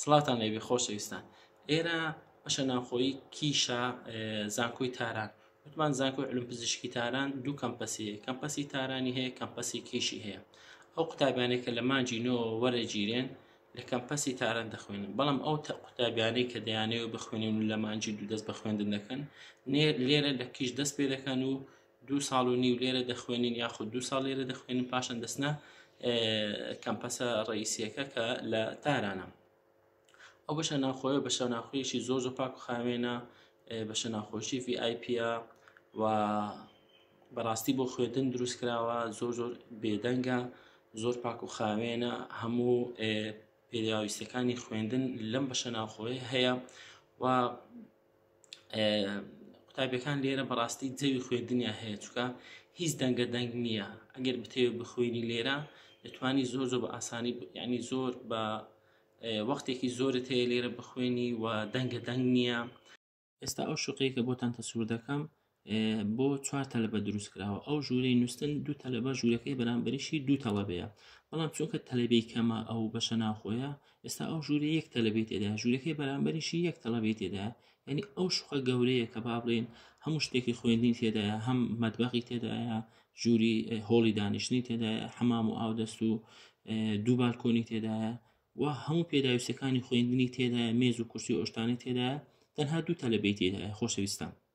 سڵاوتان لێبێ خۆشەویستان ئێرە بەشە ناوخۆی کیشە زانکۆی تاران وتمان زانکۆی علم پزیشکی تاران دوو کەمپەسی هەیە کەمپەسی تارانی هەیە کەمپەسی کیشی هەیە ئەو قوتابیانێک کە لە مانجی نۆ وەرەگیرێن لە کەمپەسی تاران دەخوێنن بەڵام ئەو قوتابیانەی کە دەیانەوە بخوێنن و لە مانجی دوو دەست بە خوێندن دەکەن لێرە لە کیش دەست پێ دەکەن و دوو ساڵ و نیو لێرە دەخوێنن یاخود دوو ساڵ لێرە دەخوێنن پاشان دەستنە کەمپەسە ڕئیسیەکە کە لە تارانە ئەو بەشە ناخۆیە بە شەناخۆیشی زۆر زۆر پاک و خاوێنە بە شەناخۆشی VIP و بەڕاستی بۆ خوێندن دروست کراوە زۆر زۆر بێدەنگە زۆر پاک و خاوێنە هەموو پێداویستەکانی خوێندن لەم بەشە ناخۆی هەیە و قوتابیەکان لێرە بەڕاستی جەوی خوێندنیا هەیە چکە هیچ دەنگە دەنگ نییە ئەگەر بتەوێ بخوێنی لێرە دەتوانی زۆر زۆر بە ئاسانی ینی زۆر بە وەختێکی زۆرت هەیە لێرە بخوێنی و دەنگە دەنگ نییە ئێستا ئەو شوقەیەکە بۆتان تەسوور دەکەم بۆ چوار تەلبە دروست کراوە ئەو ژوورەی نووسن دوو تەلبە ژوورەکەی بەرامبەریشی دوو تەڵەبەیە بەڵام چونکە تەلبی کەمە ئەو بەشە ناخۆیە ئێستا ئەو ژووری یەک تەلبێت تێدا ژوورەکەی بەرامبەریشی یەک تەڵەبێت تێدا ینی ئەو شوخە گەورەیە کە با بڵێن هەموو شتێکی خوێندین تێدایە هەم مەدبەقی تێدایە ژووری هۆڵی دانیشتنی تێدایە حەمام و ئاودەست و دوو بالکۆنی تێدایە و هەموو پێداویستەکانی خوێندنی تێدایە مێز و کورسی ئۆشتانی تێدایە تەنها دوو تەلبێت تێدایە خۆشەویستان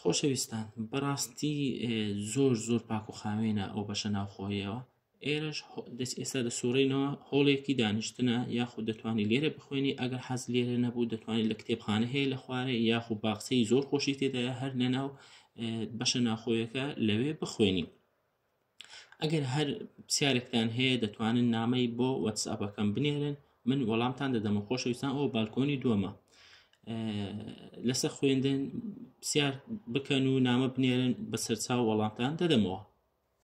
خۆشەویستان بەڕاستی زۆر زۆر پاک و خاوێنە ئەو بەشە ناوخۆیەوە ئێرەش دەست ئێستا دەسوڕینەوە هۆڵێکی دانیشتنە یاخود دەتوانانی لێرە بخوێنی ئەگەر حەز لێرە نەبوو دەتوانانی لە کتێبخانە هەیە لە خوارێ یاخو باخچەی زۆر خۆشی تێدایە هەر لەناو بەشە ناخۆیەکە لەوێ بخوێنی ئەگەر هەر پرسیارێکتان هەیە دەتوانن نامەی بۆ وەتسئەپەکەم بنێرن من وەڵامتان دەدەمە خۆشەویستان ئەو بالکۆنی دووەمە لەسەر خوێندن پرسیار بکەن و نامە بنێرن بە سەرچاو وەڵامتان دەدەمەوە